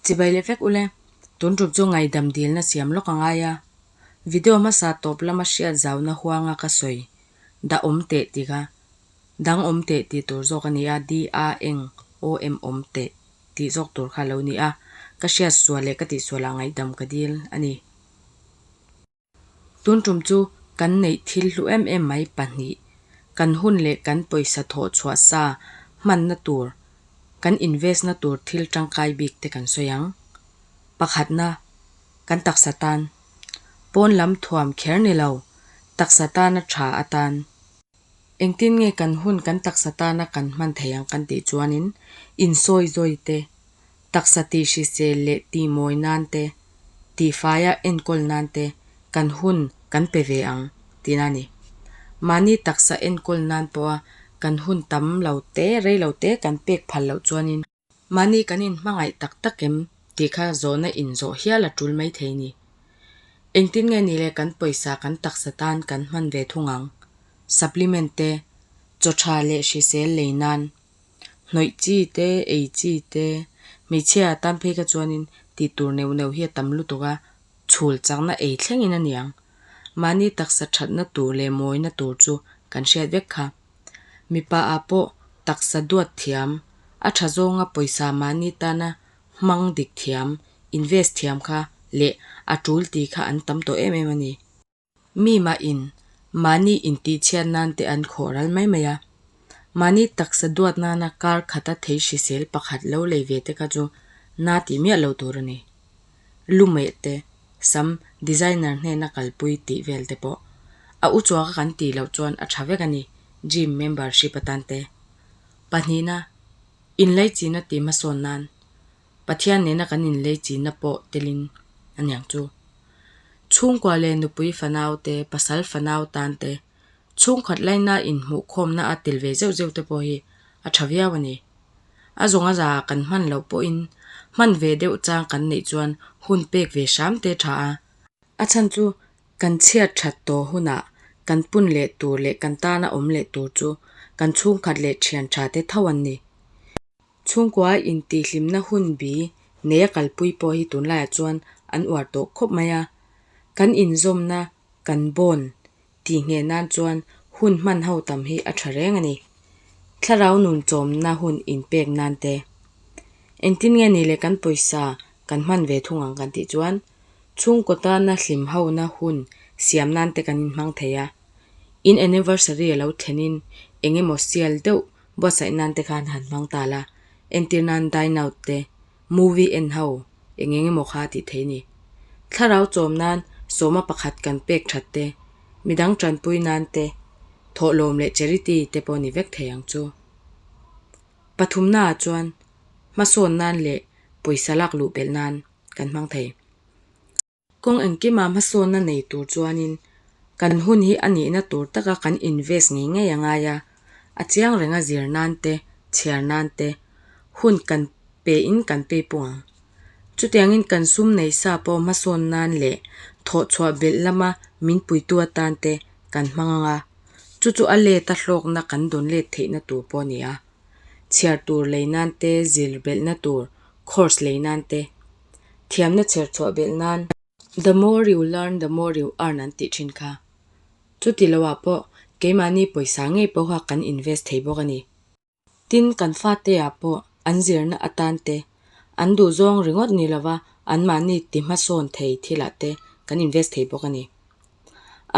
Chibai leh vek ule, tun rup chu ngaidam dilna siam lawk a ngai a, video hmasa tawp lama hriat zauna huanga ka sawi dah awm teh tika, dang awm teh ti tur zawk a ni a, di a eng awm awm teh tih zawk tur kha lo ni a, ka hriat sual leh ka tihsualah ngaidam ka dil a ni. Tun tum chu kan neih thil hlu em em mai pahnih, kan hun leh kan pawisa thawh chhuah sa hmanna tur, kan invest na tur thil tangkai bik te kan sawi ang. Pakhatna, kan taksa tan. Pawn lam thuam kher ni lo, taksa tana tha atan. Engtin nge kan hun kan taksa tana kan hman thei ang kan tih chuanin insawi zawi te, taksa tihrisel leh tihmawi nan te, tihfaia enkawl nan te kan hun kan pe ve ang tiin a ni. Mahni taksa enkawl nan pawha kan hun tam lo te, rei lo te kan pek phal loh chuanin, Mahni kan in hmangaih tak tak em tih kha zawhna in zawh hial a tul mai thei ni. Engtin nge ni le kan pawisa kan taksa tan kan hman ve thung ang. Supplement te, chaw tha leh hrisel lei nan, hnawih chi te, ei chi te, hmeichhia tan phei kha chuan in ti tur neuh neuh hi a tam lutuk a, chhul chakna ei thleng in a ni ang. Mahni taksa thatna tur leh mawina tur chu kan hriat vek kha. Mipa-a pawh taksa duat thiam, a tha zawnga pawisa mahni tana hmang dik thiam, invest thiam kha leh a tul ti kha an tam tawh em em a ni. Mi mahin mahni intihchhiat nan te an khawh ral mai mai a. Mahni taksa duat nana kar khata thei hrisel pakhat lo lei ve te kha chu na ti miah lo tur a ni. lu meh te, sam, designer hnena kalpui tih vel te pawh a uchuak a kan tih loh chuan a tha vek a ni, gym membership atan te. Pahnihna, inlei chihna tih hmasawn nan Pathian nena kan inlei chihna pawh telin aniang chu. Chhungkua leh nupui fanau te, pasal fanau tan te Chhungkhat laina inhmuhkhawmna a tel ve zeuh zeuh te pawh hi a tha viau a ni. A zawnga za kan hman loh pawhin hman ve deuh chang kan neih chuan hun pek ve hram te tha a. A chhan chu kan chhiar that tawh hunah kan pun leh tur leh kan tana awm leh tur chu kan chhungkhat leh thian tha te tho an ni. Chhungkua intihhlimna hun bi nei a kalpui pawh hi tunlaiah chuan an uar tawh khawp mai a. Kan inzawmna kan bawn tih ngheh nan chuan hun hman ho tam hi a tha reng a ni. Thlarau nun chawmna hun inpek nan te. Engtin nge ni le kan pawisa kan hman ve thung ang kan tih chuan chhungkaw tana hlim hona hun siam nan te kan inhmang thei a. In anniversary a lo thlen in eng emaw sial deuh buatsaih nan te khan han hmang ta la, entir nan dine out te, Movie en ho, eng eng emaw kha tih theih ni. Thlarau chawm nan sawma pakhat kan pek that te, midang tanpui nan te, thawh lawm leh charity te pawh ni vek thei ang chu. Pathumnaah chuan hmasawn nan leh pawisa lak luh belh nan kan hmang thei. Kawng engkima hmasawnna nei tur chuanin kan hun hi a nihna tur taka kan invest ngei ngei a ngai a, a chiang reng a zir nan te, chhiar nan te, hun kan pe in kan pe pawh ang. Chutiangin kan sum nei sa pawh hmasawn nan leh thawh chhuah belh lama min puitu atan te kan hmang ang a, chu chu a let a hlawkna kan dawn let theihna tur pawh a ni a, chhiar tur lei nan te, zir belhna tur course lei nan te, thiamna chher chhuah belh nan, The more you learn, the more you earn an tih thin kha. Chuti loah pawh keimahni pawisa ngei pawh kha kan invest thei bawk a ni. Tin, kan fate-ah pawh an zirna atan te, an duhzawng ringawt ni lova anmahni ti hmasawn thei thilah te kan invest thei bawk a ni.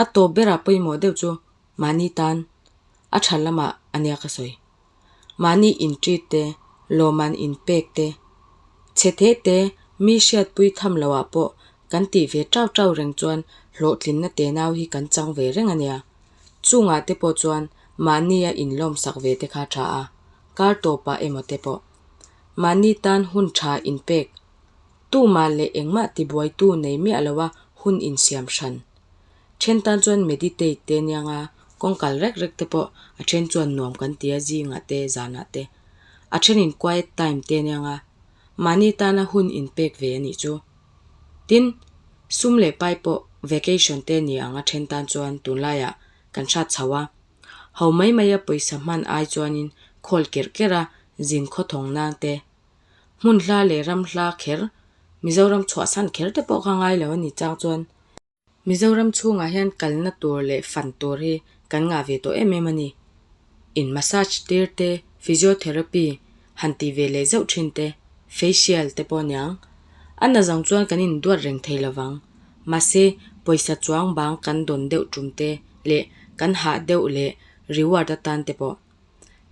A tawp berah pawimawh deuh chu mahni tan a tha lamah a nia ka sawi. mahni intrit te, lawmman inpek te, chhethe te mi hriatpui tham loah pawh kan tih ve ṭau ṭau reng chuan hlawhtlinna tenau hi kan chang ve reng a nia. Chungah te pawh chuan mahnia inlawmsak ve te kha ṭha a, kar tawpah emaw te pawh. Mahni tan hun ṭha inpek, tumah leh engmah tibuaitu nei miah loa hun insiam hran. then tan chuan meditate te aniang a kawngkal rek rek te pawh a then chuan nuam kan tia zingah te zanah te a thenin quiet time te aniang a mahni tana hun in pek ve anih chu tin sum leh pai pawh vacation te ani ang a then tan chuan tunlaia kan hrat chho a ho mai maia pawisa hman ai chuanin khawl ker ker a zin khaw thawng nang te Hmun hla leh ram hla kher, Mizoram chhuah san kher te pawh kha ngai lo a ni chang chuan Mizoram chhungah hian kalna tur leh fan tur hi kan ngah ve tawh em em a ni. In massage tir te, physiotherapy han tih ve leh zeuh thin te, facial te pawh niang a na zawng chuan kan in duat reng thei lo vang. Mahse, pawisa chuang bang kan dawn deuh tum te leh kan hah deuh leh reward atan te pawh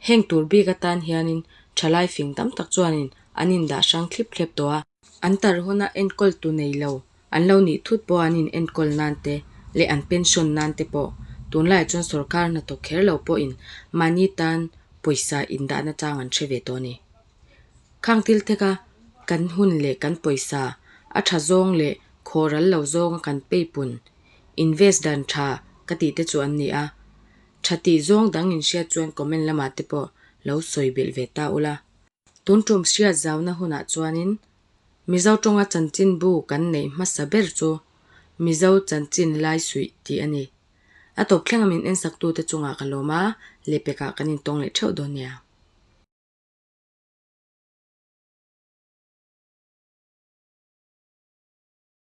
Heng tur bik atan hianin thalai fing tam tak chuanin an indah hrang thlip thlep tawh a. An tar huna enkawl tu nei lo, an lo nih thut pawh an in enkawl nan te leh an pension nan te pawh tunlaiah chuan sorkar hnathawk kher lo pawhin mahni tan pawisa indahna chang an hre ve tawh a ni. Khang Thiltheka kan hun leh kan pawisa a tha zawng leh khawral lo zawnga kan peipunn, invest dan tha ka tih te chu an ni a, Tha tih zawng dang in hriat chuan comment lamah te pawh lo sawi belh ve ta ula. Tun ṭum hriat zauna hunah chuanin Mizo ṭawnga chanchin bu kan neih hmasa ber chu Mizo chanchin lai suih tih a ni. A tawp thleng a min ensaktute chungah ka lawm a, Lepekah kan intawng leh ṭheuh dawn nia.